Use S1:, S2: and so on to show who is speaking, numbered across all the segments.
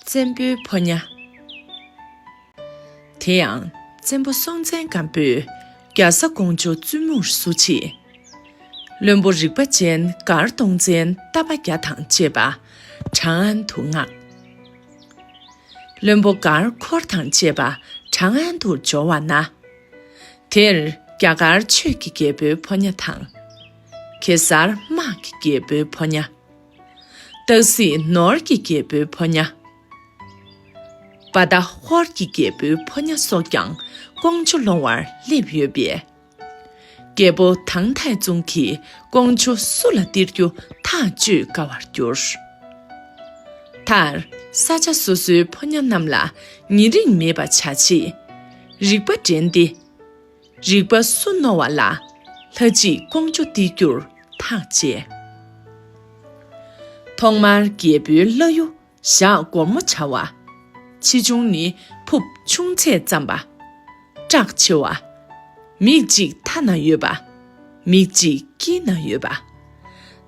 S1: བཙན་པོའི་ཕོ་ཉ། དེ་ཡང་བཙན་པོ་སྲོང་བཙན་སྒམ་པོས་རྒྱ་བཟའ་ཀོང་ཇོ་བཙུན་མོར་བསུ་ཆེད། བློན་པོ་རིག་པ་ཅན་མགར་སྟོང་བཙན་རྟ་པ་བརྒྱ་དང་བཅས་པ་བྲང་ཨན་དུ་མངགས། བློན་པོ་མགར་འཁོར་དང་བཅས་པ་བྲང་ཨན་དུ་འབྱོར་བ་ན། དེར་རྒྱ་གར་ཆོས་ཀྱི་རྒྱལ་པོའི་ཕོ་ཉ་དང། གེ་སར་དམག་གི་རྒྱལ་པོའི་ཕོ་ཉ། སྟག་གཟིག་ནོར་གྱི་རྒྱལ་པོའི་ཕོ་ཉ། བ་ད་ཧོར་གྱི་རྒྱལ་པོའི་ཕོ་ཉ་སོགས་ཀྱང་ཀོང་ཇོ་ལོང་བར་སླེབས་ཡོད་པས། རྒྱལ་པོ་ཐང་ཐའི་ཙུང་གིས་ཀོང་ཇོ་སུ་ལ་སྟེར་རྒྱུ་ཐག་གཅོད་དཀའ་བར་གྱུར། མཐར་ས་ཆ་སོ་སོའི་ཕོ་ཉ་རྣམས་ལ་ཉེ་རིང་མེད་པ་བྱ་ཆེད། རིག་པ་འགྲན་ཏེ། རིག་པ་སུ་རྣོ་བ་ལ། ལྷ་གཅིག་ཀོང་ཇོ་སྟེ་བསྒྱུར་ཐག་བཅད། ཐོག་མར་རྒྱལ་པོའི་བླ་གཡུ་བཞག་སྒོར་མོ་བྱ་བ། ཆེ་ཆུང་ནི་ཕུབ་ཆུང་ཚད་ཙམ་པ། བཀྲག་ཆེ་བ། མིག་གཅིག་མཐའ་ན་ཡོད་པ། མིག་གཅིག་དཀྱིལ་ན་ཡོད་པ།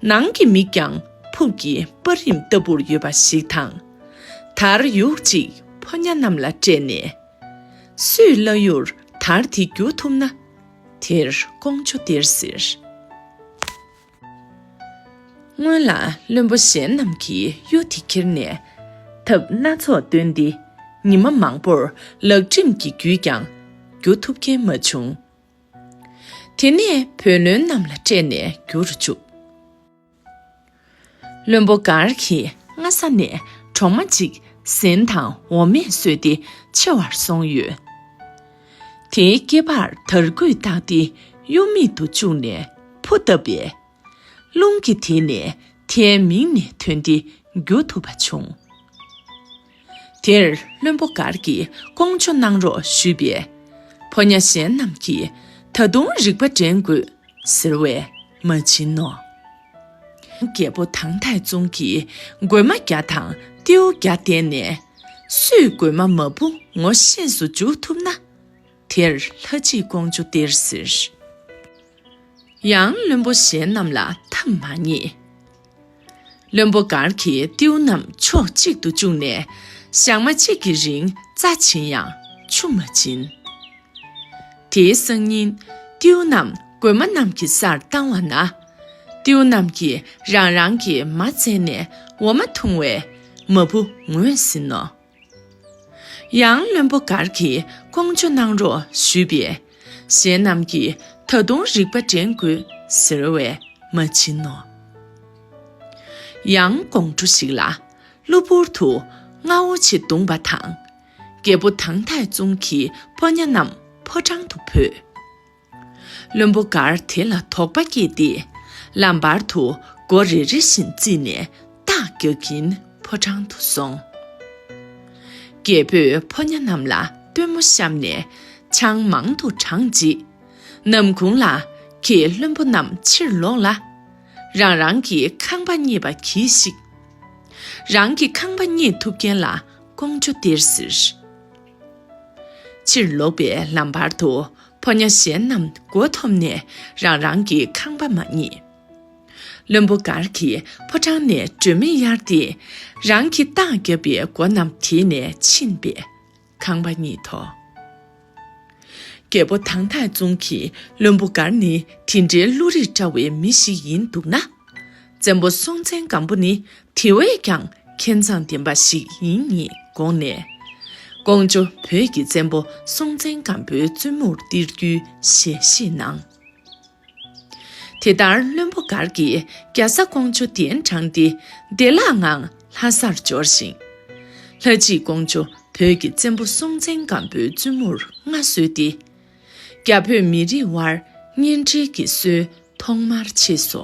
S1: ནང་གི་མིག་ཀྱང་ཕུབ་ཀྱི་སྤར་རིམ་ལྟ་བུར་ཡོད་པ་ཞིག་དང། དར་ཡུག་གཅིག་ཕོ་ཉ་རྣམས་ལ་སྤྲད་ནས། སུས་བླ་ཡུར་དར་དེ་བསྒྱུར་ཐུབ་ན། དེར་ཀོང་ཇོ་སྟེར་ཟེར། སྔོན་ལ་བློན་པོ་གཞན་རྣམས་ཀྱིས་གཡུ་དེ་ཁྱེར་ནས། ཐབས་སྣ་ཚོགས་བཏོན་ཏེ་ཉི་མ་མང་པོར་ལག་ཁྲིམས་ཀྱིས་བརྒྱུད་ཀྱང་བསྒྱུར་ཐུབ་མཁན་མ་བྱུང། དེ་ནས་བོད་བློན་རྣམས་ལ་སྤྲད་ནས་བསྒྱུར་རུ་བཅུག། བློན་པོ་མགར་གྱིས་སྔ་ས་ནས་གྲོག་མ་གཅིག་ཟན་དང་འོ་མས་གསོས་ཏེ་ཆེ་བར་སོང་ཡོད། དེའི་སྐེད་པར་དར་སྐུད་བཏགས་ཏེ་གཡུ་མིག་ཏུ་བཅུག་ནས་ཕུ་བཏབ་པས། རླུང་གིས་དེད་ནས་མཐའི་མིང་ནས་ཐོན་ཏེ་རྒྱུ་ཐུབ་པ་བྱུང། དེར་བློན་པོ་གར་གྱིས་སྐོང་ཆོག་གནང་རོགས་ཞུས་པས། ཕོ་ཉ་གཞན་རྣམས་ཀྱིས་ད་དུང་རིག་པ་འདྲེན་དགོས་ཟེར་བས་མ་བྱིན་ནོ། རྒྱལ་པོ་ཐང་ཐའི་ཙུང་གིས་རྒོད་མ་བརྒྱ་དང་རྟེའུ་བརྒྱ་བསྟན་ནས། སུས་རྒོད་མ་མ་བུ་ངོ་ཤེས་སུ་འཇུག་ཐུབ་ན། དེར་ལྷ་གཅིག་ཀོང་ཇོ་སྟེར་ཟེར། ཡང་བློན་པོ་གཞན་རྣམས་ལ་ཐབས་མ་རྙེད། བློན་པོ་མགར་གྱིས་རྟེའུ་རྣམས་ཕྱོགས་གཅིག་ཏུ་བཅུག་ནས་ཞག་མ་གཅིག་གི་རིང་རྩ་བྱིན་ཡང་ཆུ་མ་འབྱིན། དེའི་སང་ཉིན་རྟེའུ་རྣམས་རྒོད་མ་རྣམས་ཀྱི་སར་བཏང་བ་ན། རྟེའུ་རྣམས་ཀྱིས་རང་རང་གི་མ་བཙལ་ནས་འོ་མ་འཐུང་བས་མ་བུ་ངོས་ཟིན་ནོ། ཡང་བློན་པོ་མགར་གྱིས་ཀོང་ཇོ་གནང་རོགས་ཞུས་པས། གཞན་རྣམས་ཀྱིས་ད་དུང་རིག་པ་འདྲེན་དགོས་ཟེར་བས་མ་བྱིན་ནོ། ཡང་ཀོང་ཇོ་ཞིག་ལ་གློ་བུར་དུ་རྔ་བོ་ཆེ་བརྡུངས་པ་དང། རྒྱལ་པོ་ཐང་ཐག་བཙུན་གྱི་ཕོ་ཉ་རྣམས་ཕོ་བྲང་དུ་བུད། བློན་པོ་འགར་དེ་ལ་དོགས་པ་སྐྱེས་ཏེ། ལམ་བར་དུ་སྒོ་རེ་རེ་བཞིན་བརྩིས་ནས་སྟག་རྒྱག་གིན་ཕོ་བྲང་དུ་སོང། རྒྱལ་པོས་ཕོ་ཉ་རྣམས་ལ་སྟོན་མོ་བཤམས་ནས་ཆང་མང་དུ་དྲངས་རྗེས། ནམ་གུང་ལ་ཁྱེད་བློན་པོ་རྣམས་ཕྱིར་ལོག་ལ། རང་རང་གི་ཁང་པ་རྙེད་པ་གྱིས་ཤིག། རང་གི་ཁང་པ་རྙེད་ཐུབ་མཁན་ལ་ཀོང་ཇོ་སྟེར་ཟེར། ཕྱིར་ལོག་པའི་ལམ་བར་དུ་ཕོ་ཉ་གཞན་རྣམས་མགོ་འཐོམས་ནས་རང་རང་གི་ཁང་པ་མ་རྙེད། བློན་པོ་མགར་གྱིས་ཕོ་བྲང་ནས་སྒྲོན་མེ་གཡར་ཏེ། རང་གི་རྟགས་བརྒྱབ་པའི་སྒོ་རྣམས་དེད་ནས་ཕྱིན་པས་ཁང་པ་རྙེད་དོ། རྒྱལ་པོ་ཐང་ཐག་བཙུན་གྱིས་བློན་པོ་མགར་ནི་དེ་འདྲའི་བློ་རིག་བཀྲ་བའི་མི་ཞིག་ཡིན་འདུག་ན། བཙན་པོ་སྲོང་བཙན་སྒམ་པོ་ནི་དེ་བས་ཀྱང་མཁས་མཛངས་ལྡན་པ་ཞིག་ཡིན་ངེས་དགོངས་ནས། ཀོང་ཇོ་བོད་ཀྱི་བཙན་པོ་སྲོང་བཙན་སྒམ་པོའི་བཙུན་མོར་བསྟེར་རྒྱུའི་ཞལ་བཞེས་གནང། དེ་ལྟར་བློན་པོ་མགར་གྱིས་རྒྱ་བཟའ་ཀོང་ཇོ་གདན་དྲངས་ཏེ་བདེ་བླག་ངང་ལྷ་སར་འབྱོར་ཞིང། ལྷ་སྐྱིད་ཀོང་ཇོ་བོད་ཀྱི་བཙན་པོ་སྲོང་བཙན་སྒམ་པོའི་བཙུན་མོར་མངའ་གསོལ་ཏེ། རྒྱ་བོད་མི་རིགས་དབར་གཉེན་སྒྲིག་གི་སྲོལ་ཐོག་མར་མཆིས་སོ།